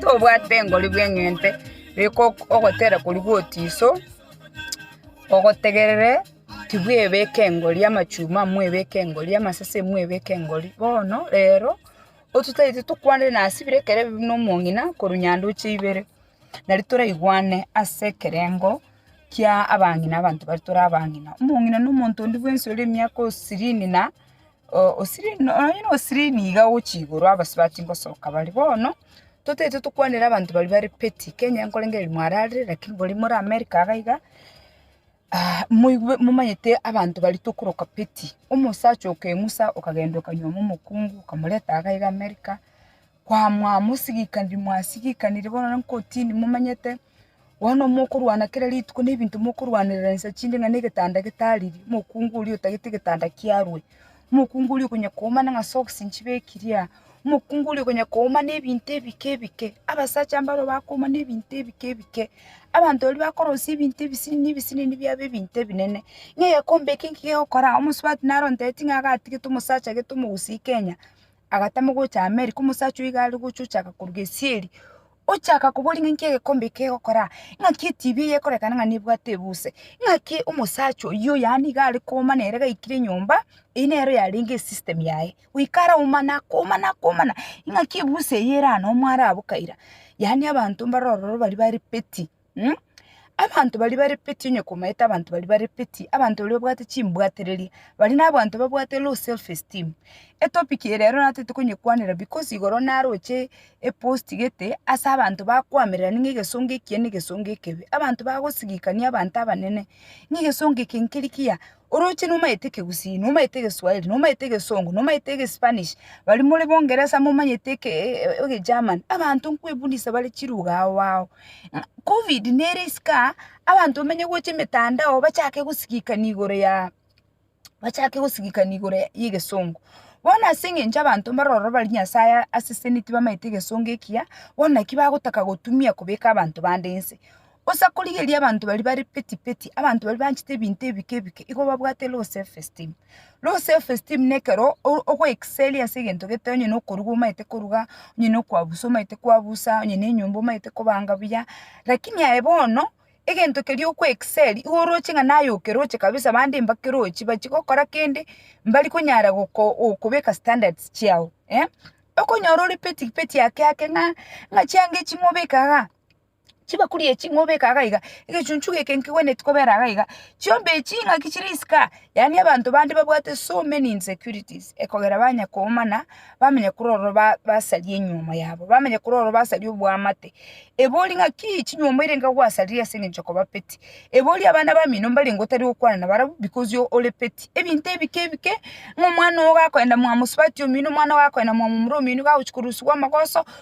Tobwate engori bw'eng'ente beka ogotera koria gotiso, ogotegerere tibwebeka engori amachuma mwebeke engori amasese mwebeke engori bono rero ototagete tokwanere nasibire ekero buna omong'ina korwa nyandoche ibere. nari toraigwane ase ekerengo kia abang'ina abanto baria tore abang'ina. Omong'ina na omonto onde bwensi ore emiaka osirini na o- osirini na onye na osirini iga gochia igoro abasio batingosoka bare. Bono, totaete tokwanere abanto baria bare petty, Kenya nkorengereria mwararire, lakini boria more America iga iga. Moigwe momanyete abanto baria tokoroka Peti. Omosacha o Kemusa okagenda okanyuoma omokungu, okamoreta iga iga Amerika, kwamoa mosigikaniri, mwasigikaniri bono na nkotini momanyete, bono mokorwana kera rituko na ebinto mokorwanerera inse chinde ng'a na egetanda getariri, omokungu oria otagete egetanda kiarwe. Omokungu oria okonya koomana ng'a socks nchibe eclear, omokungu oria okonya koomana ebinto ebike ebike, abasacha mbaro bakoomana ebinto ebike ebike, abanto baria bakorosia ebinto ebisinini ebisinini biabe ebinto ebinene, ng'a egekombe eke nki gegokoraa, omosubati naro onteti ng'a iga atigete omosacha gete omogusu Kenya, agatama gocha Amerika, omosacha oyo iga aregocha ochaka koruga esieri, ochaka kobori ng'a nki egekombe eke kegokoraa, ng'aki etv eye ekorekana ng'a nebwate ebuse, ng'aki omosacha oyio yaani iga are kooma nere gaikire nyomba, eyio nero yarenge esystem yaye, goika ara omana akooma na akoomana, ing'aki ebuse eyio ere anomo araboka ira, yaani abanto mbare ororo baria bare petty. Mh, abanto baria barepeti onye komaete abanto baria barepeti, abanto baria babwate chimbwatereri, baria nabaanto babwate low self esteem. Etopic eye rero natete konyekwanera because igoro naroche eposti gete ase abanto bakwamererani ng'a egesongo ekiya na egesongo ekebe, abanto bagosigikani abanto abanene, ng'a egesongo eke nkeri kiya, Oroche nomaete ekegusii, nomaete egeswahili, nomaete egesongo, nomaete egespanish, baria more bongeresa momanyete eke egegerman, abanto nkwebunisa bare chilugha ao ao. Ng'a covid nere isiko aa, abanto bamenye gocha emetandao bachake gosigikani igoro ya bachake gosigikani igoro ya egesongo. Bono ase eng'encho abanto mbare ororo bari nyasaye asesenitie bamaete egesongo ekiya, bono naki bagotaka gotumia kobeka abanto bande inse. Gose akorigereria abanto baria bare peti peti, abanto baria banchete ebinto ebike ebike, igo babwate low self esteem. Low self esteem na ekero o- ogo excelia ase egento gete onye na okoruga omanyete koruga, onye na okwabusa omanyete kwabusa, onye na enyomba omanyete kobanga buya, lakini aye bono, egento keria oko excelia, igo oroche ng'a naye okeroche kabisa bande mbakerochi, bachi gokora kende, mbari konyara goko gokobeka standards chiao, eh. Okonyora ore peti peti ake ake ng'a ng'a chianga echi ng'obeka igaa. chibakuri echi ng'obeke iga iga, egechunchu geke nkegwenereti kobera iga iga, chiombe echi ng'aki chire isiko aa, yaani abanto bande babwate so many insecurities ekogera banya koumana, bamanya korwa ororo ba- basaria enyiomo yabo, bamanya korwa ororo basaria oboamate, ebe oria ng'aki chinyomo eira iga gwasarire ase eng'encho okoba peti, ebe oria abana bamino mbarenge otari gokwana na barabwo because o- ore peti, ebinto ebike ebike, ng'a omwana ogo gakoenda mwa mosubati omino, omwana ogo gakoenda mwa momura omino, gagochi korusigwa amagoso,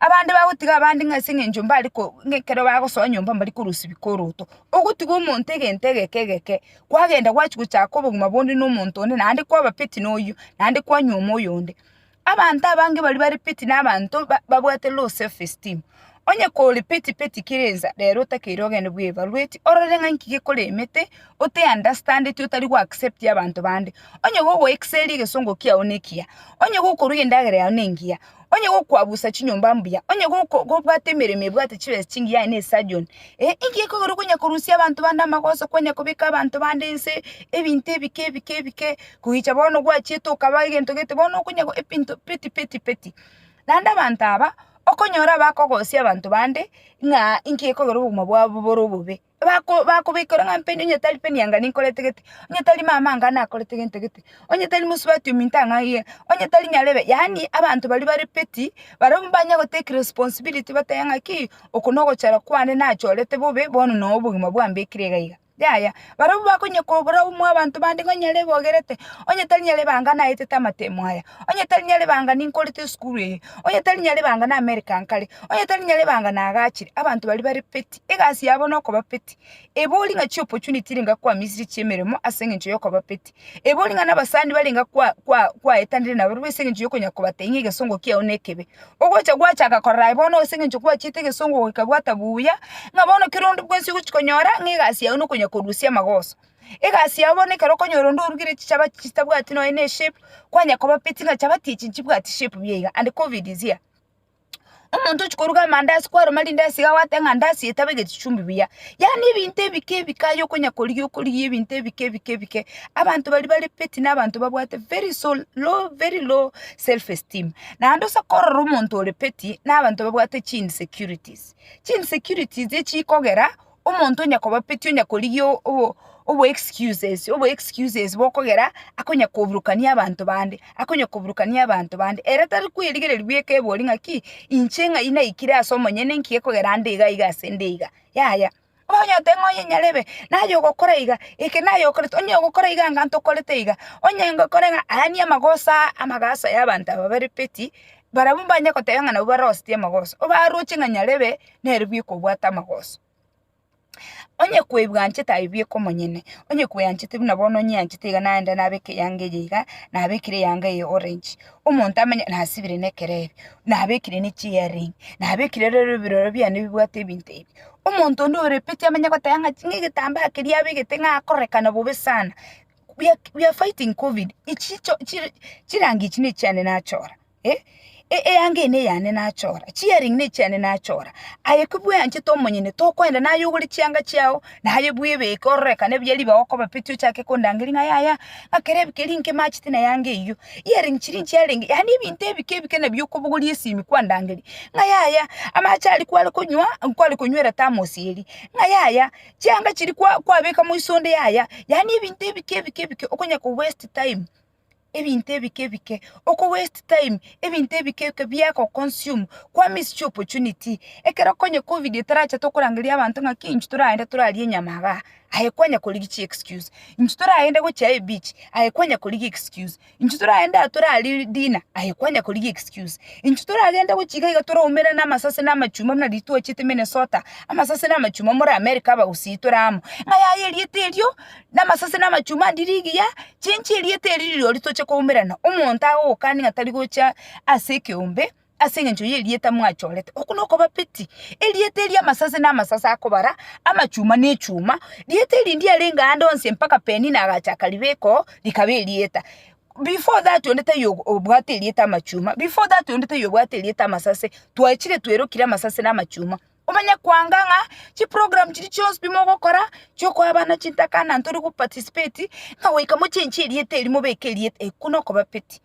Abande bagotiga abande ng'a ase eng'encho mbare ko ng'a ekero bagosoa nyomba mbari korosibwa koroto. Ogotiga omonto egento egeke egeke, kwagenda gwachia gochaka obogima bonde na omonto onde naende kwaba peti na oyio, naende kwanyuoma oyonde. Abanto abange baria bare peti na abanto ba babwate low self esteem. Onye kore peti peti kera ensa, rero otakeire ogende bwa evaluate orore ng'a nki gekoremete, ote understandeti otari go accepti abanto bande. Onye gogo excelia egesongo kiago nekiya, onye gokoruga endagera yao nengiya. Onye gokwabusa chinyomba mbuya, onye goko- gobwata emeremo ebwate chibesa chingiya aye na esurgeon, eh, inki gekogera okonya korusia abanto bande amagoso konya kobeka abanto bande ense ebinto ebike ebike ebike koyicha bono gwachiete okaba egento gete bono okonya go ebinto peti peti peti. Naende abanto aba, okonyora abakogosia abanto bande ng'a inki gekogera obogima bwabo bore obobe. bako bakobeka ore ng'a mpe onye tari peni anga ninkorete gete, onye tari mama anga nakorete gento gete, onye tari mosubati ominto ang'a aiga, onye tari nyarebe, yaani abanto baria bare petty, barabwo mbanya gotake responsibility batebe ng'aki, oko nogochora kwane nachorete bobe, bono noo obogima bwambekire iga iga, yaya. Barabwo bakonya kobora omwa abanto bande ng'a nyarebe ogerete, onye tari nyarebe anga naetete amatemo aya, onye tari nyarebe anga ninkorete esukuru eye. Onye tari Nyaribanga namereka nkare, onye tari Nyaribanga nagachire, abanto baria bare peti, egasi yabo nokoba peti. Ebori ng'a chiopportunity niga kwamisetie chiemeremo ase eng'encho yokoba peti. Ebori ng'a nabasani bare niga kwa kwa kwaetanire nabarobwo ase eng'encho yokonya kobatebia ng'a egesongo kiao nekebe. Ogocha gwachaka korora aye bono ase eng'encho gwachiete egesongo goika bwata buya, ng'a bono kero onde bwensi ogochi konyora ng'a egasi yao nokonya korusia amagoso. Egasi yao bono ekero okonyora onde orugire chichaba chitabwati nonye ne shape, kwanya kobapeti ng'a chabati echi nchibwati shape buya iga and covid is here. Omonto ochia koruga amandasi kwaruma rindasi iga gwateba ng'a ndasi eye tabegete chumbi buya, yaani ebinto ebike ebike aye okonya korigia okorigia ebinto ebike ebike ebike, abanto baria bare peti na abanto babwate very so low very low self esteem. Naende ase korora omonto ore peti, na abanto babwate chi insecurities, chi insecurities echikogera. omonto onya kobapetia onya korigia obo obo excuses obo excuses bokogera akonya koburukania abanto bande, akonya koburukania abanto bande, ere tari kwerigereria bweka ebori ng'aki, inche ng'ai naikire ase omonyene enki gekogera ande iga iga ase ende iga, yaya. Onye oteba ng'a onye nyarebe, naye ogokora iga, eke naye okorete, onye ogokora iga anga ntokorete iga, onye ngokore ng'a ayania amagoso aa amagaso ya abanto aba bare petty, barabwo mbanye goteba ng'a nabo baroseti amagoso, obaroche ng'a nyarebe. nere bwekobwata amagoso. Onye kwebwanchete aye bweka omonyene, onye kweanchete buna bono onyeanchete iga naende nabeke eyanga eye iga, nabekire eyanga eye orange, omonto amenye nasibire na ekerebe, nabekire ne chiearing, nabekire rero ebirore biane bibwate ebinto ebi. Omonto onde ore petty amenye goteba ng'a ng'a egetambaa keria abegete ng'a akorekana bobe sana, we are we are fighting covid, echi chicho chire chirangi echi nechiane nachora. eh, e- eanga eye neyane nachora, chiearring nechiane nachora, aye ki bweanchete omonyene, tokoenda naye ogore chianga chiao, naye bwebeke ororekane buya ribaga okoba peti ochake kondangeria ng'a yaya, ng'a kera ebi keria inki emachete na eanga eyio, earring chiria nchiarenge, yaani ebinto ebike ebike nabio okobogoria esimi kwandangeria, ng'a yaya, amache aria kware konywa, nkware konywera thermos eria, ng'a yaya, chianga chiria kwa- kwabeka moiso onde yaya, yaani ebinto ebike ebike ebike okonya ko waste time. ebinto ebike ebike, oko waste time ebinto ebike ebike biago consume, kwa miss chi opportunity. Ekero konye covid etaracha tokorangeria abanto ng'aki inche toragende torarie enyama igaa, aye kwanya korigia chi excuse, inche toragende gochia ebichi, aye kwanya korigia excuse, inche toragende aa torarie dinner, aye kwanya korigia excuse, inche toragende gochia iga iga toraumere na amasase na amachuma buna riria twachete Minnesota, amasase na amachuma more America abagusii tore amo, ng'a yaye erieta erio. namasase na amachuma ande rigiya, chinchi erieta eri rirori toche koumerana, omonto agogokani ng'a tari gocha ase ekeombe ase eng'encho y'erieta mwachorete. Oko nokoba peti, erieta eri amasase na amasase akobara, amachuma na echuma, rieta eri ndiarenge aande onsi mpaka Penina agachaka ribeko rikaba erieta. Before that onde taiyo ogo obwate erieta amachuma, before that onde taiyo obwate erieta amasase, twaechire twerokire amasase na amachuma. Omenye koanga ng'a chiprogram chiria chionsi pi mogokora chiokoa abana chintaka na ntore goparticipate ng'a goika mochenche erieta erio mobeke erieta iko nokobapeti.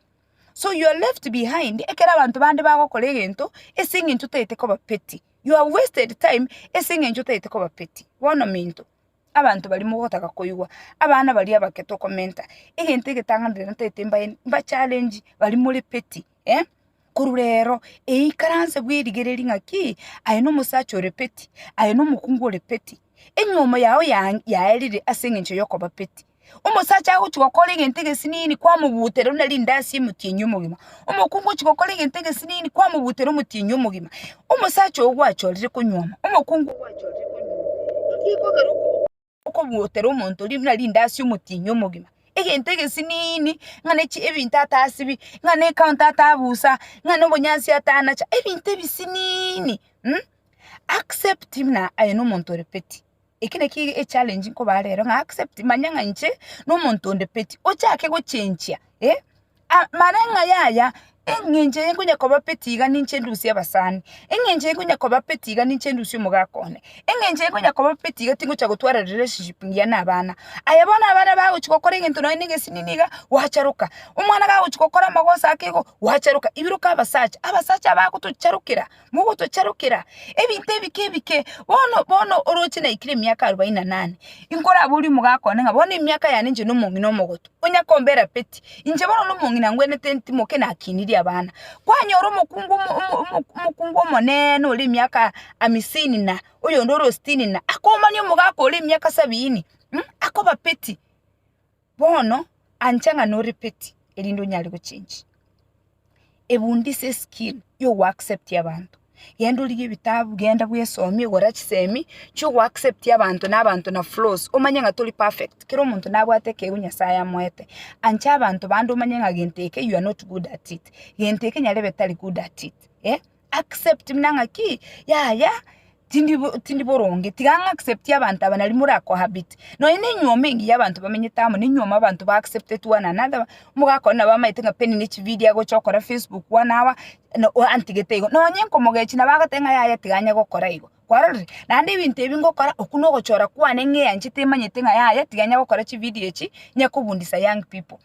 So you are left behind ekero abanto bande bagokora egento ase eng'encho otagete kobapeti. You are wasted time ase eng'encho otagete kobapeti. Bono minto, abanto baria mogotaka koigwa, abana baria abake tokomenta, egento egetang'ani rero ntagete mbae mbachallenge baria more peti. Eh, korwa reero eikaranse bw'erigereria ng'a ki, aye nomosacha ore peti, aye nomokungu ore peti, enyomo yao ya- yaerire ase engencho y'okoba peti. Omosacha agochia gokora egento egesinini kwamobutera buna rindasi emotienyia omogima, omokungu ochia gokora egento egesinini kwamobutera omotienyia omogima. Omosacha oyo gwachorire konyuoma, omokungu oyo gwachorire konyuoma. Naki ekogera okoba. okobuotera omonto ri- buna rindasi omotienyi omogima, egento egesiniini, ng'a ne chi- ebinto atasibi, ng'a ne ekaonto atabusa, ng'a na obonyansi atanacha, ebinto ebisiniini accept buna aye nomonto ore peti. Eki naki ege- echallenge nkobaha rero ng'a accept manya ng'a inche nomonto onde peti, ochake gochenchia. Amareng'ai aya, engencho eye nkonya kobapeti iga ninche ndusie abasani, engencho eye nkonya kobapeti iga ninche ndusie omogaka one, engencho eye nkonya kobapeti iga tingocha gotwara relationship engiya na abana. Aye bono abana bagochi gokora egento nonye na egesinini iga, gwacharoka, omwana gagochi gokora amagoso ake igo, gwacharoka, ibiroka abasacha, abasacha abagotocherokera. mogotocharokera ebinto ebike ebike, bono bono oroche naikire emiaka arubaini na nane, inkoraborie omogaka one ng'a bono emiaka yane inche na omong'ina omogotu, onya kombera peti? Inche bono na omong'ina ngwenerete ntimoke nakinirie abana. Kwanyora omokungu omo omo omo omokungu omonene ore emiaka amisini na, oyonde ore o sitini na, akomania omogaka ore emiaka sabiini, mh, akoba peti. Bono ancha ng'a no repeat erinde onyare gochenji. Ebundisa eskill yo go accept abanto. Genda orige ebitabu, genda bwesomie, gora chisemi chio go accept abanto na abanto na flaws. Omanye ng'a tori perfect, kera omonto nabwate ekeigo Nyasaye amoete. Ancha abanto bande omanye ng'a gento eke you are not good at it, gento eke nyarebe tari good at it. accept muna ng'a ki, yaya tindi tindi boronge, tiga ng'a accept abanto aba nari mora cohabit. Nonya na enyuoma engiya abanto bamenyete amo, na enyuoma abanto ba accepted one another, omogaka one nabo amaete ng'a penina echividio agocha gokora facebook one hour na oa antigete igo. Nonya nkomogechia nabo agoteba ng'a yaya tiga onye gokora igo, kwarorire? Naende ebinto ebi ngokora, okwo na ogochora kwane ng'eanchete emanyete ng'a yaya tiga onye gokora chividio echi, onye kobundisa young people.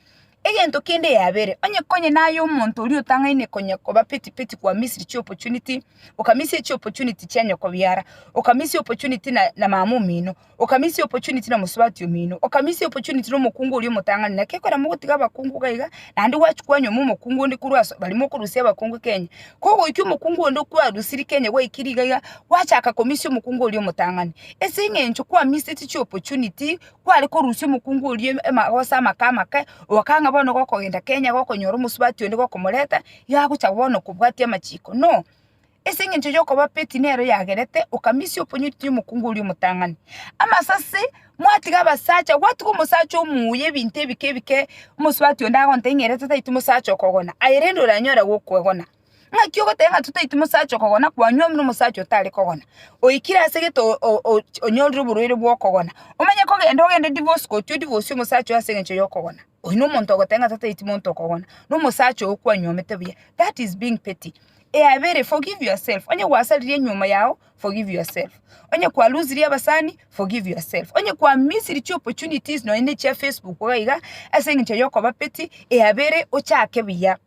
Egento kende yabere, onye konye naye omonto oria otang'aine konya koba peti peti kwa misia chi opportunity, okamisia chi opportunity chia nyoko biara, okamisia opportunity na na mama omino, okamisia opportunity na mosubati omino, okamisia opportunity na omokungu oria omotang'ani, naki ekero mogotiga abakungu iga iga, naende gwachia kwanyoma omokungu onde korwa ase baria mokorusia abakungu Kenya. Kogoikia omokungu onde okwarusirie Kenya gwaikirie iga iga, gwachaka komisia omokungu oria omotang'ani, ase eng'encho kwamiseti chi opportunity. kware korusia omokungu oria em- ema- gose amake amake, okanga bono gokogenda Kenya gokonyora omosubati onde gokomoreta, iga agocha bono kobwatia amachiko. No, ase eng'encho yokoba petty nero yagerete, okamisia oponyoti ria omokungu oria omotang'ani. Amasase, mwatiga abasacha, gwatiga omosacha omuya ebinto ebike ebike, omosubati onde agontebia ng'a ere tataeti mosacha okogona, aye rende oranyare gokwegona. Ng'aki ogoteba ng'a totaeti mosacha okogona kwanyuomire nomosacha otare kogona, oikire ase egento o- o- ochi- onyorire oborwaire bw'okogona, omanye kogenda ogende divorce gotio divorcie omosacha oo ase engencho y'okogona, oyio nomonto ogoteba ng'a totaeti monto okogona, nomosacha oo kwanyuomete buya, that is being petty. Eya kabere, forgive yourself, onye gwasaririe enyiomo yago, forgive yourself, onye kwalusirie abasani, forgive yourself, onye kwa missiri chiopportunities nonya na echia facebook iga iga ase engencho yokoba petty, eya kabere ochake buya.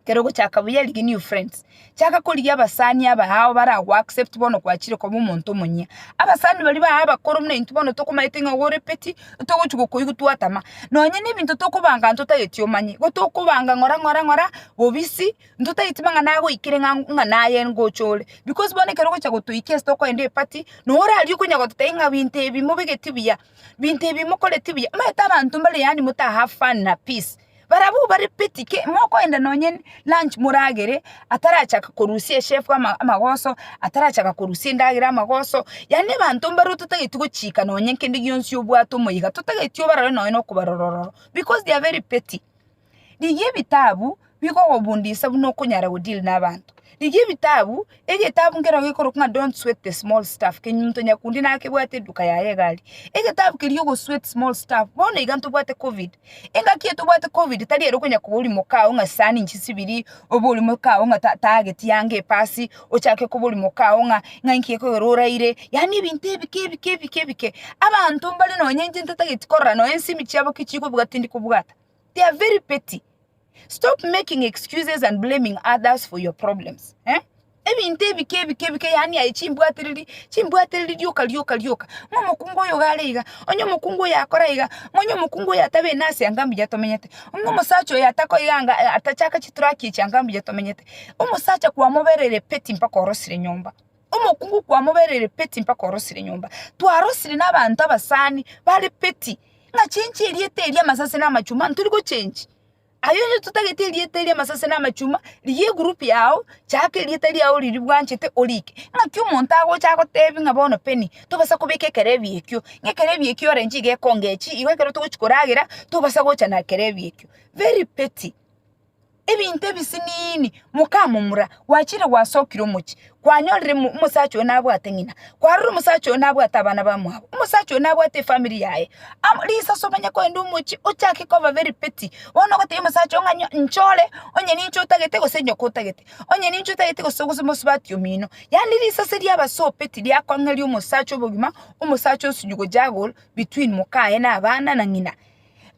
Kero ogochaka buya rigia new friends. Chaka korigia abasani aba ao bara go accept bono gwachire koba omonto omonyia. Abasani baria ba abakoro buna intwe bono tokomaete ng'a igo ore petty, togochi gokoigwa twatama. Nonye na ebinto tokobanga ntotageti omanye. Igo tokobanga ng'ora ng'ora ng'ora bobisi ntotageti mang'ana agoikire ng'a ng'a naye ngocha ore. Because bono ekero ogocha gotoikia ase tokoenda eparty, nonya ore aria okonya gototebia ng'a binto ebi mobegeti buya, binto ebi mokoreti buya. Omanyete abanto mbare yaani motaha fun na peace. Barabwo bare peti ki, mokoenda nonye lunch moragere atarachaka korusia echef ama- amagoso, atarachaka korusia endagera amagoso, yaani abanto mbaro totageti gochika nonye kende gionsi obwate omoika, totageti obarore nonye na okobarora ororo because they are very petty. Rigia ebitabu bigokobundisa buna okonyara godeal na abanto. Rigia ebitabu, egetabu nkeroo gekorokwa ng'a Don't Sweat the Small Stuff, kenyunyunto nyakundi nakebwate eduka yaye egari. Egetabu keria ogo Sweat Small Stuff, bono iga ntobwate covid. Engaki etobwate covid tari ere okonya koba ore moka oo ng'a sisani inche sibiri, obe ore moka oo ng'a ta tageti yange epasi, ochake koba ore moka oo ng'a ng'a inki gekogera oraire, yaani ebinto ebike ebike ebike ebike. Abanto mbare nonye inche ntatageti korora nonye ensimi chiabo ki chikobugata tindi kobugata. They are very petty. Stop making excuses and blaming others for your problems. Eh? ebinto ebike ebike ebike yani aye chimbwatereri chimbwatereri rioka rioka rioka ng'a omokungu oyo iga are iga onye omokungu oyo akora iga ng'a onye omokungu oyo atabe ene ase anga mbuya tomenyete ng'a omosacha oyo atako iga anga eh, atachaka chituraki echi anga mbuya tomenyete omosacha kwamoberire petty mpaka orosire nyomba Omokungu kwamobereire peti mpaka orosire nyomba. Twarosire na abanto abasani bare peti ng'a chenchi erieta eria amasase na amachuma ntori gochenchi. Aye onye totagete erieta eria amasase na amachuma rigia egroup yao chaaka erieta riao riri bwanchete orike ng'aki omonto agocha agotebi ng'a bono Penny tobasa kobeka ekerebi ekio ng'a ekerebi ekio orenche iga ekonge echi igo ekero togochi koragera tobasa gocha na ekerebi ekio. Very petty. Ebinto ebisiniini, mokamomura, gwachire gwasokire omochie, kwanyorire mo- omosacha oyo nabwate ng'ina, kwarora omosacha oyo nabwate abana bamwabo, omosacha oyo nabwate efamiri yaye, amo risaso omanye kogenda omochie, ochake koba very petty, bono ogotebi omosacha oo ng'a nyo- nchore onye ninche otagete gose nyoko otagete, onye ninche otagete gose gose mosubati omino, yaani risase riaba so petty riakong'eria omosacha obogima, omosacha osinye gojago between moka aye na abana na ng'ina.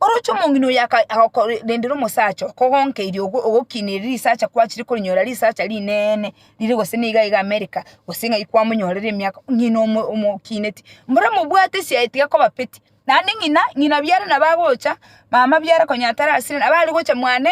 Oroche omong'ina oyo agokorendera omosacha okogonkeirie ogokineria risacha kwachire korinyora risacha rinene rire gose niga iga America gose ng'ai kwamonyorera emiaka ong'ina omokineti mbora mobwate esiaye tiga kobapeti naende ng'ina ng'ina biara nabo agocha mama biara konya tarasira nabo aregocha mwane.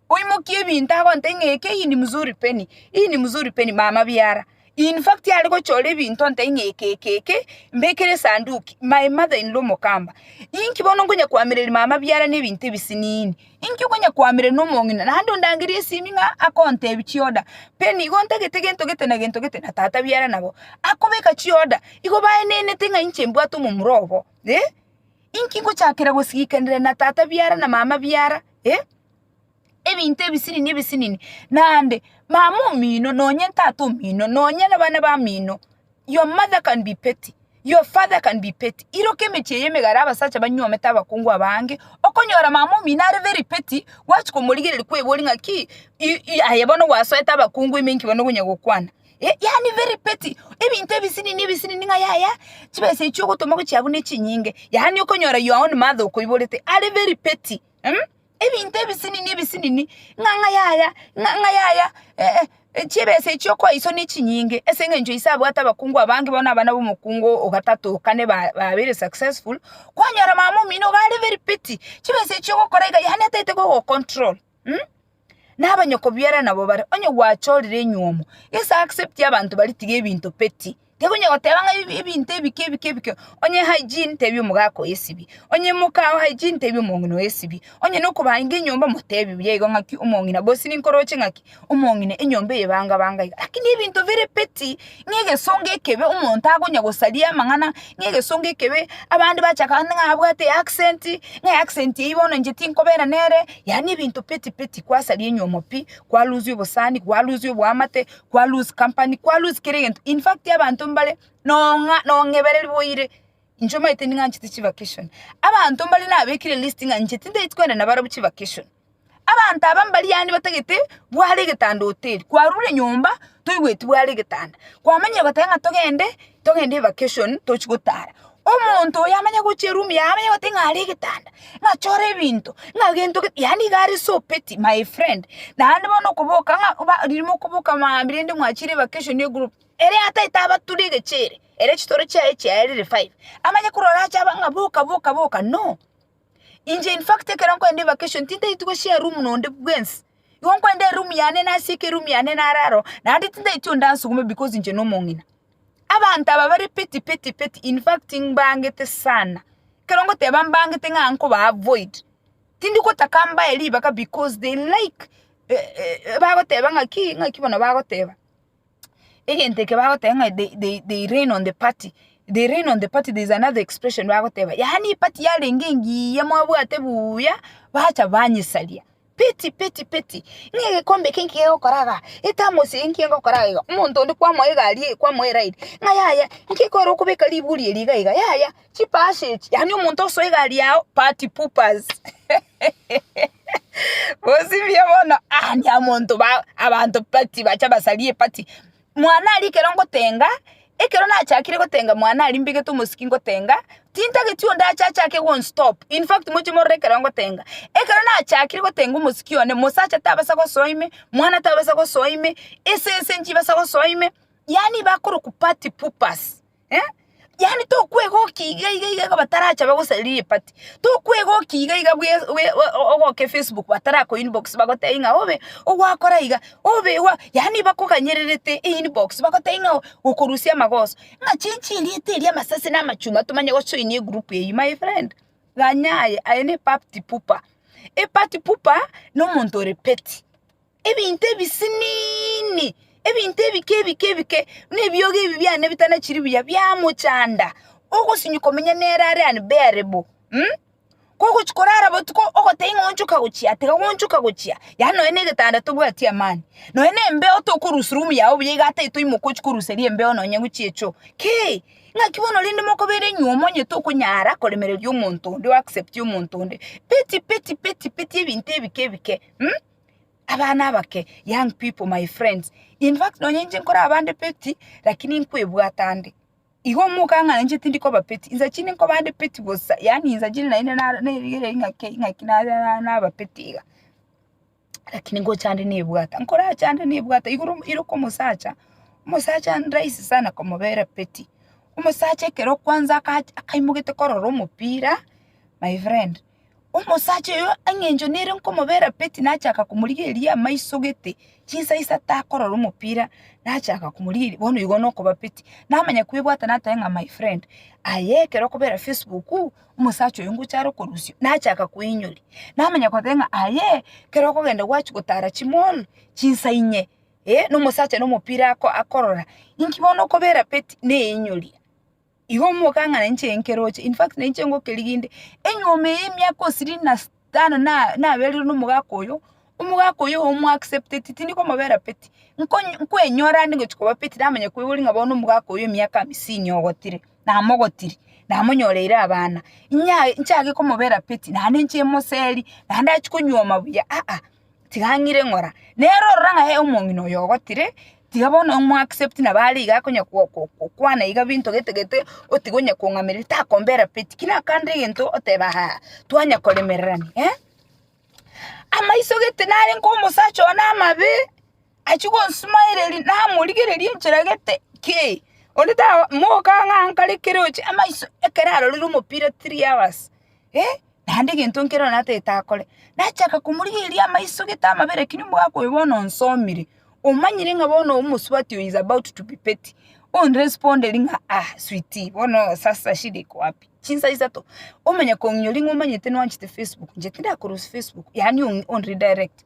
Oimokie ebinto agontebie ng'a eke hii ni mzuri peni, hii ni mzuri peni, mama biara. In fact are gochora ebinto ontebie ng'a eke eke eke mbekere esanduki, my mother in law omokamba. Inki bono nkonya koamereria mama biara na ebinto ebisiniini? Inki okonya koamereria na omong'ina? Naende ondangerie esimi ng'a akontebia chioda, peni igo ntagete gento gete na gento gete na tata biara nabo. Akobeka chioda, igo baenenete ng'a inche mbwate omomura obo, eh. Inki ngochakera gosigikanera na tata biara na mama biara, eh. ebinto ebisinini ebisinini, naende mama omino nonye tata omino nonye na bana bamino, your mother can be petty, your father can be petty, iroka emechie eye emegare abasacha banyuomete abakungu aba ange, okonyora mama omino are very petty, gwachia komorigereria kweboria ng'a ki i aye bono gwasoete abakungu ime inki bono okonya gokwana eh yaani very petty, ebinto ebisinini ebisinini ng'a yaya chibesa echio ogotoma gochia abwo nechinyinge, yaani okonyora your own mother okoiborete are very petty. ebinto ebisinini ebisinini, ng'a ng'a yaya, ng'a ng'a yaya chibesa echio okoiso nechinyinge ase eng'encho ise abwate abakungu abange bono abana b'omokungu o gatatu o kane ba babere successful, kwanyora mama omino iga are very petty, chibesa echio ogokora iga yaani ataete kogocontrol. na abanyoko biara nabo bare, onye gwachorire enywomo, gese accept abanto baria tiga ebinto petty, tiga onya goteba ng'a ebi ebinto ebike ebike ebike, onye hygiene tebi omogaka oyo esibie, onye moka oo hygiene tebi omong'ina oyo esibie, onye nokobainga enyomba motebi buya igo ng'aki omong'ina gose ninkoroche ng'aki omong'ina enyomba eye banga banga iga, lakini ebinto bire petty. Ng'a egesongo ekebe omonto akonya gosaria amang'ana, ng'a egesongo ekebe abande bacha kare ng'a abwate eaccent, ng'a eaccent eywo bono inche tinkobera nere, yaani ebinto peti peti kwasaria enyomo pi, kwa lose obosani, kwa lose oboamate, kwa lose company, kwa lose kera egento, in fact abanto mbare nong'a nong'ebereri boire, inche omanyete ning'anchete chivacation, abanto mbare nabekire list ng'a inche tindaeti koenda nabarabwo chivacation. Abanto aba mbaria aane batagete bware egetanda hoteli, kwarure nyomba toigweti bware egetanda, kwamanyire goteba ng'a togende togende evacation tochi gotara, omonto oyo amanye gochia eroom yaye amanye gote ng'a are egetanda, ng'a chore ebinto, ng'a gento gete yaani iga are so petty my friend, naende bono okoboka ng'a oba riria mokoboka maambia rende mwachire evacation ne egroup, ere ataete abature egechee ere, ere chitoro chiaye chiaye rire five, amanye korora ache aba ng'a boka boka boka no. Inche in fact ekero nkorende evacation tintaiti goshare room nonde bwensi, igo nkorende eroom yane nasieke eroom yane nare aro, naende tintaiti onde ansuguma because inche na omong'ina. Abanto aba bare peti peti peti in fact mbangete sana, ekero ngoteba mbangete ng'a nkoba avoid, tindi gotaka mbae ribaka because they like bagoteba ng'aki ng'aki bono bagoteba. egento eke bagoteba ng'a they, they, they reign on the party they reign on the party there is another expression bagoteba yaani eparty yarenge engiya mwabwate buuya bacha banyesaria peti peti peti ng'a egekombe eke nki gegokora igaa ethermos eye nki egokora iga omonto onde kwamoa egari eye kwamoa eride ng'a yaya nki ekero okobeka riburi eri iga iga yaya chipasi echi yaani omonto osoe egari yao party poopers. Bosibie bono aande amonto ba abanto pati bacha basarie pati, mwane aria ekero ngotenga, ekero nachakire gotenga mwane aria mbegete omosiki ngotenga, tintageti onde ache achake gonstop, in fact moche morore ekero ngotenga, ekero nachakire gotenga omosiki one, mosacha tabasa gosoa ime, mwana tabasa gosoa ime, esese nchibasa gosoa ime, yaani bakorokwa party poopers. eh, yaani tokwegokia iga iga iga iga batarachabe gosariri epati, tokwegokia iga iga bwe bwe o- ogoke facebook batarakoinbox bagotebi ng'a obe ogwakora iga, obe iga, yaani bakoganyererete einbox bagotebia ng'a okorusia amagoso, ng'a chichi erieta eria amasasi na amachunga tomanye gochoinia egroup eywo my friend, ganya aye, aye ne epapti pupa, epati pupa na omonto ore petty. ebinto ebisiniini, ebinto ebike ebike ebike, buna ebiogi ebi biane bitanachiri buya biamochanda, ogosinywa komenya nere are unbearable mh, kogochia korara botuko ogoteba ng'a onchoka gochia tiga gonchoka gochia, yaani nonye na egetanda tobwati amani, nonye na embeo tokorusia room yago buya iga ata etoimoka ochia koruseria embeo nonye gochia echoo kei, ng'aki bono rende mokobere inywe omonyete okonyara koremereria omonto onde oacceptie omonto onde, peti peti peti peti ebinto ebike ebike mh. Abana abake, young people, my friends, in fact nonye inche nkore abande peti, lakini nkwebwata ande. Igo omoka ng'a inche tindi koba peti, insa chinde nkoba ande peti bosa, yaani insa chinde naende na- nerigereria ing'aki ing'aki na- na- naba peti iga. Lakini ngocha ande nebwata, nkorache ande nebwata igoro ere okomosacha, omosacha nrahisi sana komobera peti. Omosacha ekero kwanza aka- akaimogetie korora omopira, my friend. Omosacha oyo engencho nere nkomobera peti nachaka komorigereria amaiso gete chinsa isato akorora omopira nachaka komorigereria bono igo nokoba peti namanya kwebwata nateba ng'a my friend aye ekero okobera facebook omosacha oyo ngocha are okorusio nachaka koinyoria namanya koteba ng'a aye ekero okogenda gwachia gotara chimall chinsa inye eh, na omosacha na omopira ako akorora inki bono okobera peti naeinyoria. Igo omoka ng'a nainche nkeroche, in fact nainche ngokerigia inde, enyuma eye emiaka osiri na s- tano na- naberire nomogaka oyo, omogaka oyo omo accepteti tindi komobera peti, nkonyi nkwenyora ande ngochi koba peti namanya koigori ng'a bono omogaka oyo emiaka amisini ogotire, namogotiri, namonyoreire abana, inyaye nchage komobera peti, naende nchie moseri, naende achia konyuoma buya aa. tiga ang'ire ng'ora. Nere ororo ng'a ee omong'ina oyo ogotire, tiga bono omo accept nabo are iga akonya ko- ko- kokwana iga binto gete gete, otiga onye kong'ameria takombera peti ki nakande egento oteba haa, twanya koremererania, eh. Amaiso gete narenge omosacha one amabe. Achia gosumaereria namorigereria enchera gete ki, onde taba moka ng'a nkare kere oche amaiso ekero arorire omopira three hours eh, naende egento nkere one atagete akore. Nachaka komorigereria amaiso gete amabere ekero mbwakwa oyo bono onsomire, omanyire ng'a bono omosubati oyo is about to be petty, onrespoderi ng'a ah sweetie bono sasa shida iko wapi? Chinsa isato, omanya kong'inyora ring'o omanyete nwanchete facebook, inche tindakora ase facebook, yaani ong'i onredirect.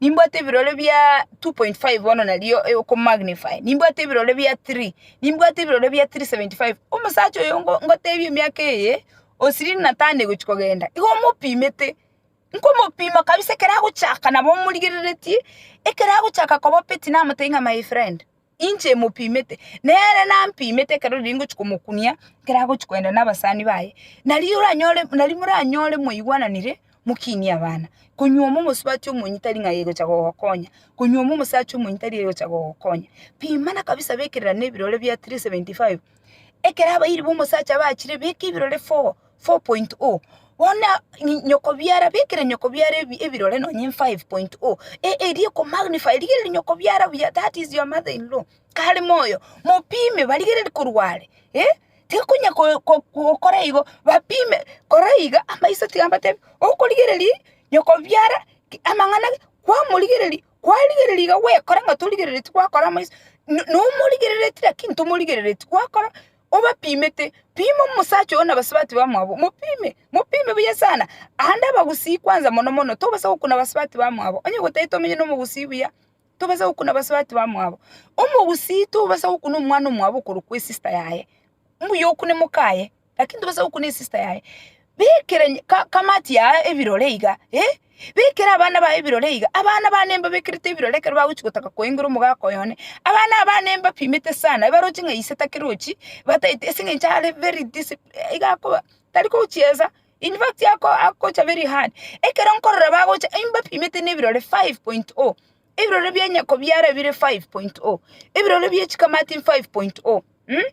Nimbwate ebirore bia 2.5 bono nario oko magnify, nimbwate ebirore bia 3, nimbwate ebirore bia 375, omosacha oyo ngo- ngotebia emiaka eye osirie natane gochi kogenda, igo omopimete, nkomopima kabisa ekero agochaka nabo omorigereretie, ekero agochaka koba peti namotebi ng'a my friend. inche mopimete, nere nampimete ekero riria ngochia komokunia ekero agochia kogenda na abasani baye, nario oranyore nario moranyore mwaigwananire mokinie abana, konywa omwa omosubati omonyene tari ng'a aye ogocha gogokonya, konywa omwa omosacha omonyene tari aye ogocha gogokonya, pimana kabisa bekererane ebirore bia three seventy five, ekero abairi ba omosacha bachire beka ebirore four, 4.0 Bono nyokobiara, bekera nyokobiara ebirore nonye 5.0 eria ekomagnify rigereria nyokobiara buya that is your mother in law kare moyo mopime barigererie korwa are eh tekonya gokora igo bapime kora iga amaiso tiga mbatebie okorigereri nyokobiara amang'ana kwamorigereria kwarigereria iga gwekora ng'a torigereretie gwakora amaiso nomorigereretie lakini tomorigereretie gwakora. obapimete, pima omosacha oyo na abasubati bamwabo, mopime, mopime buya sana. Aande abagusii kwanza mono mono, tobasa gokuna abasubati bamwabo, onye gotari tomenye na omogusii buya, tobasa gokuna abasubati bamwabo. Omogusii tobasa gokuna omwana omwabo okorokwa esista yaye, mbuya okune moka aye, lakini tobasa gokuna esista yaye. Bekera kamaati yao ebirore iga, ee, bekera abana bao ebirore iga, abana bane mbabekerete ebirore ekero bagochia gotaka koengera omogaka oye one. Abana aba bane mbapimete sana, ebaroche ng'a ise takerochi, bataeti ase eng'encho are very discipli iga akoba tari kochiesa, in fact ako akocha very hard. Ekero nkorora bagocha imbapimete na ebirore five point o, ebirore bia nyoko biara bire five point o, ebirore bie chikamati five point o mh.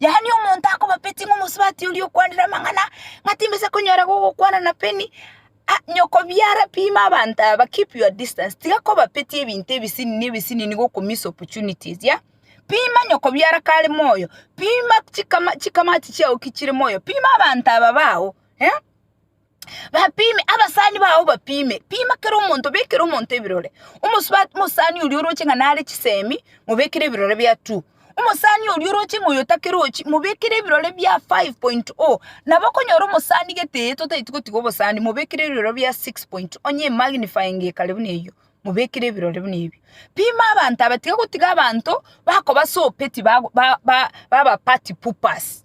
Yaani omonto akobapeti ng'a omosubati oria okwanire amang'ana, ng'a timbesa konyora gogokwana na peni, ah, nyokobiara pima abanto aba, keep your distance, tiga kobapeti ebinto ebisinini ebisinini goko miss opportunities yah, pima nyokobiara kare moyo, pima chikama chikamati chiago ki chire moyo, pima abanto aba bago eh. Bapime, abasani bao bapime, pima kera omonto, bekera omonto ebirore. Omosubati omosani oria oroche ng'a nare chisemi, mobekere ebirore bia two. Omosani oria oroche ng'a oyotakere ochi, mobekere ebirore bia five point o. Nabo okonyora omosani gete eye totaeti gotiga obosani, mobekere ebirore bia six point o, onye emagnifying ekare buna eyio, mobekere ebirore buna ebio. Pima abanto aba, tiga gotiga abanto bakoba sope tibago ba ba baba party poopers.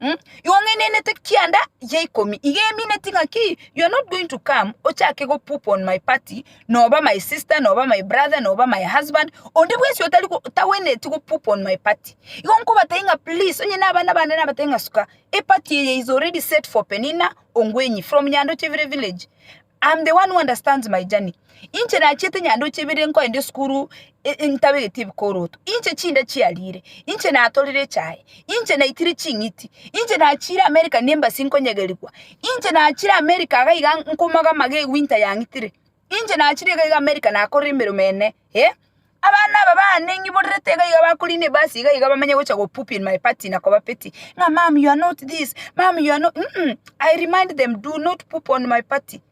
Mm, igo ng'enenete kianda ya ikomi iga emineti ng'a ki you are not going to come ochake go poop on my party noba my sister noba my brother noba my husband onde bwensi otari go- tagwenereti go poop on my party igo nkobatebi ng'a please onye na abana bane nabatebi ng'a suka eparty eye is already set for penina ongwenyi from nyandoche vire village I'm the one who understands my journey. Inche nachiete nyandoche ibere nkoenda esukuru e- e- ntabegeti ebikoroto. Inche chinda chiarire. Inche natorire echae. Inche naitire ching'iti. Inche nachire America ne embassy nkonyegerigwa. Inche nachire America iga iga nkomoga amaga ewinter yang'itire. Inche nachire iga iga America nakorire emeremo ene. Eh? Abana aba baane ng'iborerete iga iga bakoriina ebasi iga iga bamenye gocha go poop in my party na koba petty ng'a mum you are not this, mum you are not um I remind them do not poop on my party,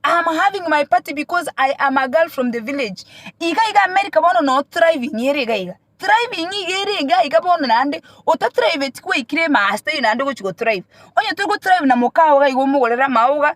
I am having my party because I am a girl from the village. Iga iga America bono no thriving ere iga iga, thriving iga ere iga iga bono naende otatriveti kwaikire master naende ogochi go thrive. Onye tori go thrive na moka ogo iga omogorere amauga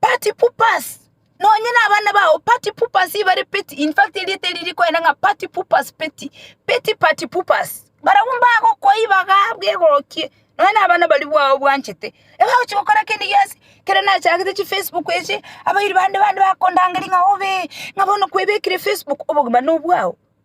Party poopers, nonye nabana bao party poopers ibare petty, in fact erieta eri rikoenda ng'a party poopers petty, petty party poopers. Barabwo mbagokoiba iga bwegorokia nonye nabana baria bwao obwanchete, ebagochi gokora kende gionsi, ekero nachagete chifacebook echi, abairi bande bande bakondangeria ng'a obee, ng'a bono kwebekire facebook, obogima nobwao.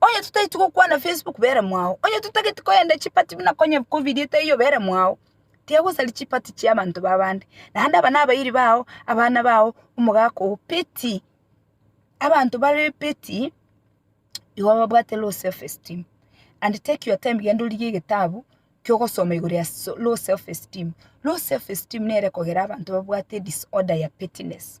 Onye totageti gokwana Facebook bera mwao, onye totageti koyenda chipati buna konye kobirie taiyo bera mwao, tiga gosaria chipati chia abanto b'abande, naende aba nabairi bao, abana bao, omogaka oo, peti abanto bare peti igo babwate low self esteem and take your time genda origie egetabu kiogosoma igoro ya low self esteem. Low self esteem nere ekogera abanto babwate disorder ya pettiness.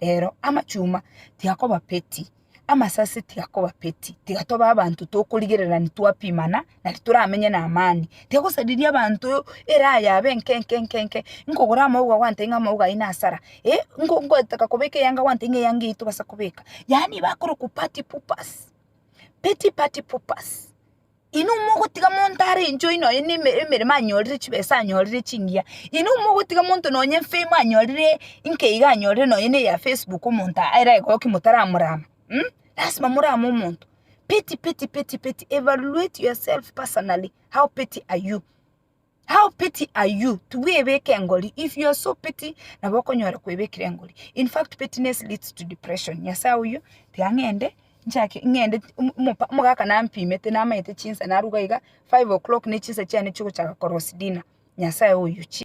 Rero amachuma tiakoba peti, amasase tiakoba peti, tiga tobe abanto tokorigererani twapimana na titoramenye na amani. Tigosariria abanto eraya abe enke enke enke enke, nkogora amauga gwantebia ng'a amauga ayio nasara, eh nko- nkotaka kobeka eyanga gwantebia ng'a eyanga eyio tobasa kobeka. Yaani bakorokwa party poopers, peti party poopers. Inwe mogotiga monto are enchwa oino aye ne emeremo anyorire chibesa anyorire chingiya, inwe mogotiga monto nonye fame anyorire inke iga anyorire nonye na eya facebook omonto ere agokia motaramorama mh, lasima morame omonto, pity pity pity pity evaluate yourself personally how pity are you. How petty are you? Tibwebeke engori. If you are so petty, nabo okonyora kwebekire engori. In fact, pettiness leads to depression. Nyasae oyio, tiga ng'ende, nchake, ng'ende, omo- omopa- omogaka nampimete, namanyete chinsa naruga iga, five o'clock ne chinsa chiane chia ogochaka korosi dinner. Nyasae oyio, chi.